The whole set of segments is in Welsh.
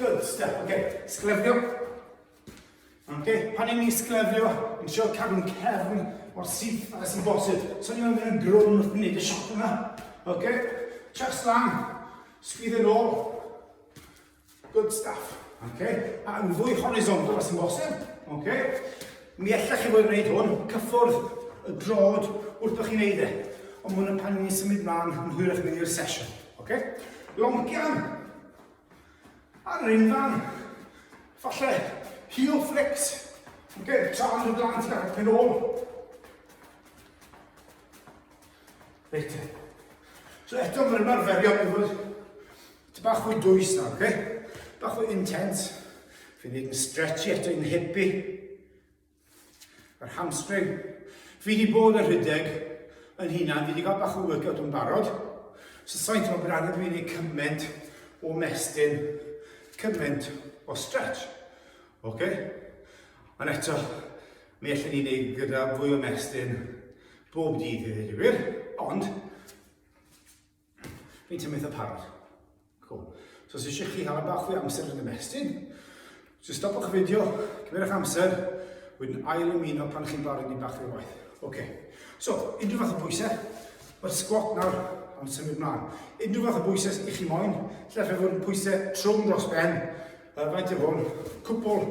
Good stuff, ok. Sglefrio. Ok, pan i'n ni sglefrio, yn siarad cadw'n cefn o'r syth a sy'n bosib. So ni'n mynd yn grwn wrth wneud y shot yna. Ok, chest lan, sgwyddo yn ôl. Good stuff. Ok, a yn fwy horizontal a sy'n bosib. Ok, mi allech chi fod yn gwneud hwn, cyffwrdd y drod wrth o'ch chi'n neud e. Ond mwyn y pan ni'n symud mlaen yn hwyrach mynd i'r sesiwn. Ok, long gian. Ar ein fan, falle heel flicks, ok, tra yn y blant i gael pen ôl. Reit, so eto mae'r ymarferion yn fod ti bach fwy dwys nawr, ok? Bach fwy intense. Fi'n neud yn stretchy eto i'n hippie. Yr hamstring. Fi wedi bod yn rhedeg yn hunan, fi wedi cael bach o workout yn barod. So sa'n teimlo bod angen fi wneud cyment o mestyn, cyment o stretch. Okay? Ond eto, mi allan ni wneud gyda fwy o mestyn bob dydd i ddweud y gwir, ond Fi'n ti'n meddwl parod. Cool. So os eisiau chi hala bach fwy amser yn y mestyn, so stopwch y fideo, cymerwch amser, wedyn ail ymuno pan chi'n barod i bach fwy o waith. Oce. Okay. So, unrhyw fath o bwysau, mae'r sgwat nawr am symud mlaen. Unrhyw fath o bwysau i chi moyn, lle fe fod yn pwysau trwm dros ben, uh, faint o hwn, cwpl,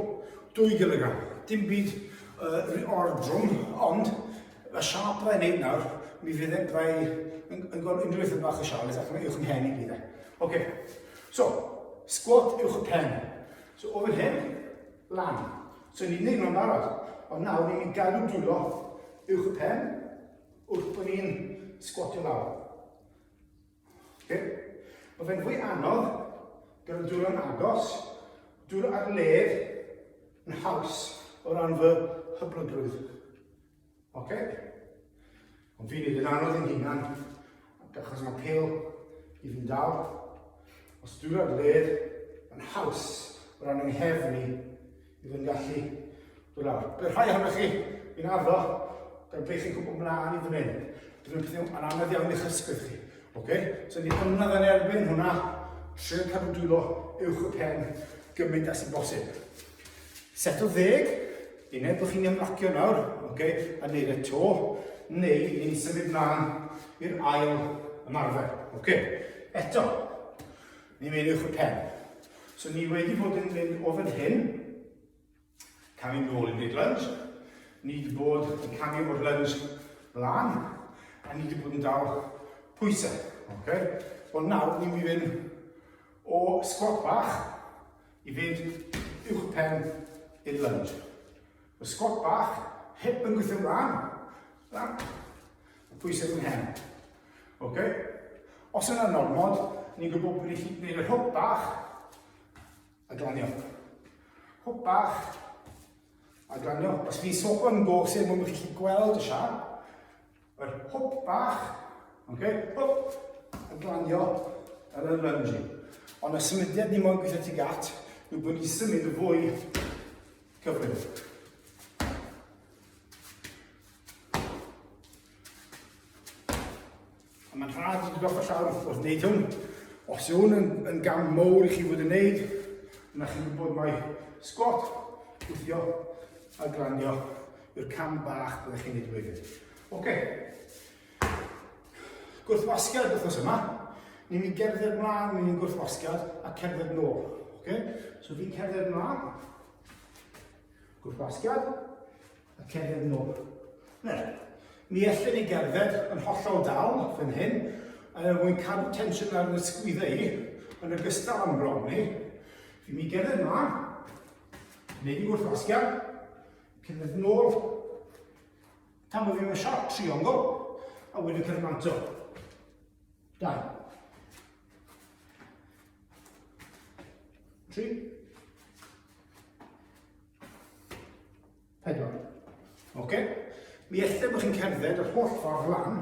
2 gilogram. Dim byd uh, o'r drwm, ond Mae siâp dda i wneud nawr, mi fydd e'n dda i... yn gweld unrhyw beth yn bach o siâp, ac mae uwch yn hen i gyd e. Oce, so, sgwat uwch y pen. So, o fan hyn, lan. So, ni'n neud nhw'n barod, ond nawr ni'n galw dwylo uwch y pen, wrth bod ni'n sgwatio lawr. Okay. Mae fe'n fwy anodd gyda dŵr yn agos, dŵr ar led yn haws o ran fy hyblygrwydd. Okay. Ond fi'n neud yn anodd i'n hunan, achos mae pil i fi'n dal. Os dŵr ar led yn haws o ran yng nghefn i, i fy ngallu o lawr. Bydd rhai ohonoch chi yn ardo gan beth chi'n gwybod mlaen i ddyn hyn. Bydd yn pethau yn anodd iawn i'ch ysbryd chi. Okay? So ni ymladd yn erbyn hwnna, trwy'n cadw dwylo uwch y pen gymaint as yn bosib. Set o ddeg, uned bod chi'n ymlacio nawr, okay? a neud y to, neu ni'n symud mlaen i'r ail ymarfer. Okay? Eto, Ni wedi'ch y pen. So ni wedi bod yn mynd o fan hyn, camu nôl i'r big lunge, ni wedi bod yn camu o'r lunge mlaen, a ni wedi bod yn dal pwysau. Okay? Wel nawr ni'n mynd i fynd o squat bach i fynd uwch y pen i'r lunge. Y sgwat bach, hip yn gweithio'n dda. Da. Pwysau fy mhen. Ok? Os yna normod, ni'n gwybod bod ni'n gwneud yr hwp bach a glanio. Hwp bach a glanio. Os chi'n sopa yn gosau mwyn bod chi'n gweld y siar, Yr hwp bach, okay? hwp, yn glanio yn y lunge. Ond y symudiad ni moyn gweithio tuag at yw bod ni'n symud y fwy cyflym. A mae'n rhaid i goffa llawr wrth gwrs wneud hwn. Os yw hwn yn, yn gam mowr i chi fod yn wneud, yna chi'n gwybod mae sgwat gweithio A glanio i'r cam bach byddech chi'n neud wedyn. Oce. Gwrthwasgiad wrthos yma. Ni'n mynd gerdded mlaen mewn i'n gwrthwasgiad a cerdded nôl. Oce? So fi'n cerdded mlaen. Gwrthwasgiad a cerdded nôl. Ne, mi ellyn ni gerdded yn hollol dal fan hyn, a er mwyn cadw tensiwn ar yn ysgwyddau i, yn ogystal am bron ni, fi'n mynd gerdded mlaen, Neu di wrth wasgian, cynnydd nôl, tan bod fi'n mynd siarc triongl, a wedyn cyrraedd manto. Dau. Tri. Pedwar. Oce? Okay? Mi ethau bod chi'n cerdded yr holl ffordd lan,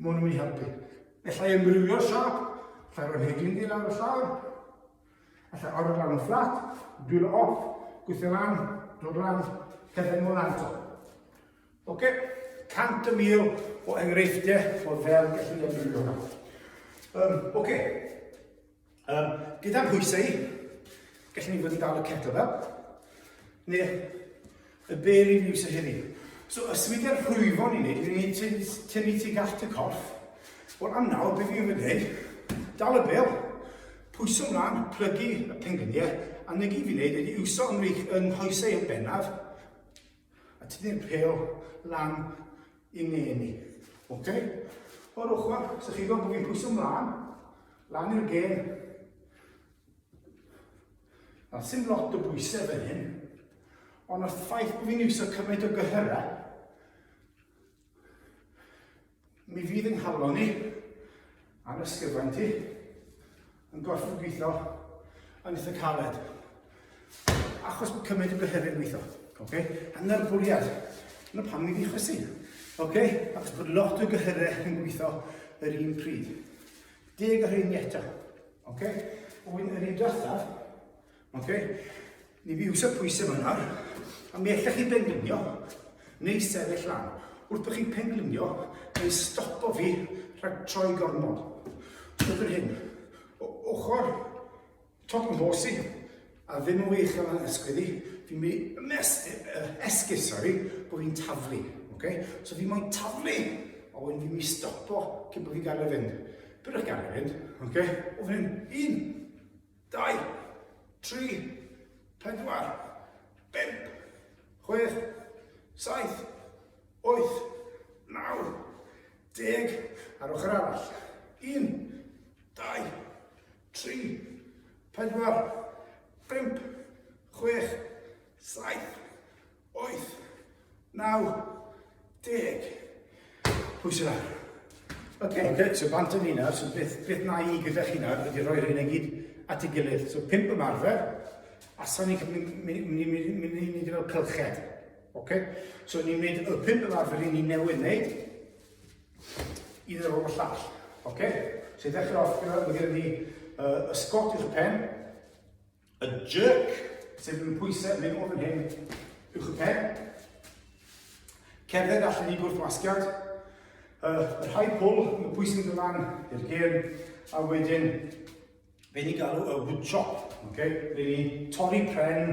Maen nhw'n ei helpu. Allai ymrywio'r siop, allai roi'r hedyn di lawr y llawr, allai orfod lawr yn fflat, dwylo off, gweithio lan, dod lan, cerdded nôl lan eto. Oce, cant y mil o enghreifftiau o fel gallu ymrwybio hwnna. Um, Oce, Um, gyda pwysau, gallwn ni fod yn dal y ceto fel, neu y bel i niws o hynny. So, y swyddau'r rhwyfo ni'n neud, ni'n neud tynnu ti gallt y corff. Wel, am nawr, beth fi'n mynd neud? Dal y bel, pwyso mlaen, plygu y pengliniau, a negi fi'n neud ydi iwso ymrych yng nghoesau yn bennaf, A tynnu'r pêl lan i ne ni. Ok? O'r ochr, so chi gweld bod fi'n pwyso mlaen, lan i'r gêm. A sy'n lot o bwysau fan hyn, ond os ffaith bod fi'n iwsio cymaint o gyhyrau, Mi fydd yng nghalon i, a'n ysgyfaint i, yn gorfod gweithio yn eitha caled. Achos bod cymryd y bythefyd yn gweithio. Okay? Yn yr bwriad. Yna pam ni fi chwysu. Okay? Achos bod lot o gyhyrau yn gweithio yr un pryd. Deg o rhain eto. Okay? Wy'n yr un diwethaf, Ok, ni fi yw'r pwysau fan nawr, a mi allech chi benglunio neu sefyll lan. Wrth bod chi'n penglunio, neu stopo fi rhag troi gormod. Wrth yr hyn, o ochr top yn bos i, a ddim yn wych am yr esgwydd i, fi'n mi esgyd, sori, bod fi'n taflu. Okay? So fi moyn taflu, a wedyn fi'n mi stopo cyn bod fi'n gael ei fynd. Byddwch gael ei fynd, okay? o fan hyn, un, Dau, tri, pedwar, bump, chwech, saith, wyth, naw, deg, ar ochr arall. Un, dau, tri, pedwar, bump, chwech, saith, 8, 9, 10. Pwysau lawr. Ok, okay, so bant yn hynna, so beth, beth na i gyda chi nawr ydy rhoi'r hyn i gyd at ei gilydd. So pimp ymarfer, a sa'n ni'n mynd i ni fel cylched. Okay? So ni'n mynd y pimp ymarfer i ni newydd wneud, i ddod o'r llall. Okay? So i ddechrau off gyda, mae gen i uh, ysgot i'r pen, A jerk, sef yn pwysau mynd o fan hyn uwch y pen. Cerdded allan i gwrthwasgiad. Uh, y rhai pwl, y pwysau yn dylan i'r gêm, a wedyn fe ni galw y wood chop, okay? fe ni torri pren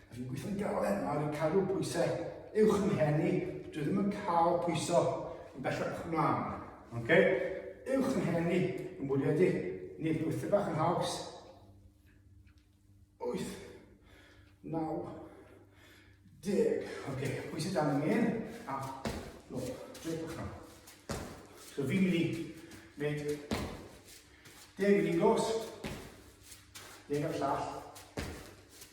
Dw i'n gweithio'n galed nawr i cadw pwysau uwch fy mhen i. Dw i ddim yn cael pwyso yn bellach ymlaen. Okay? Uwch fy mhen i, yn bwriadu nid wyth bach yn haws. Wyth, naw, deg. Okay, pwysau dan yn un, a nôl, drip o'ch nawr. So fi'n mynd i wneud deg yn un gos, deg ar llall,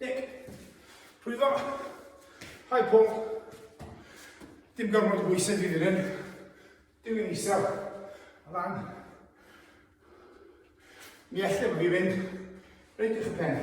Nick, rhwyfo. Hi Paul. Dim gormod o bwysau fi fan hyn. Dim yn isel. A lan. Mi allai fi fynd. Reit eich pen.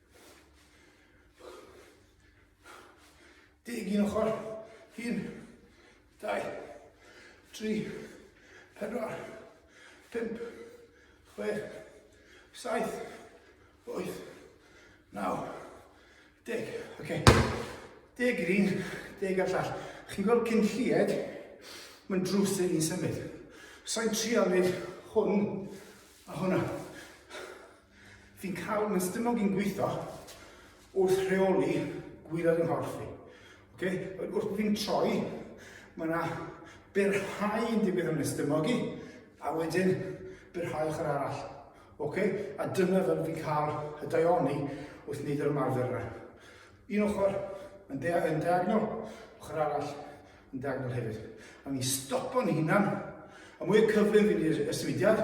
Deg un ochr, un, dau, tri, pedwar, pump, chwech, saith, wyth, naw, deg. Ok, deg i'r un, deg ar llall. Chi'n gweld cyn llied, mae'n drws ei ni'n symud. Sa'n trial wneud hwn a hwnna. Fi'n cael fy stumog i'n gweithio wrth rheoli gwylod yng nghorff fi. Okay? Wrth fi'n troi, mae yna byrhau yn digwydd yn y stumog i, a wedyn byrhau ochr arall. Okay? A dyna fel fi'n cael y daioni wrth wneud yr ymarfer yna. Un ochr yn, de yn diagonol, ochr arall yn diagonol hefyd. A fi'n stopo'n hunan, a mwy o cyflym fi'n i'r symudiad,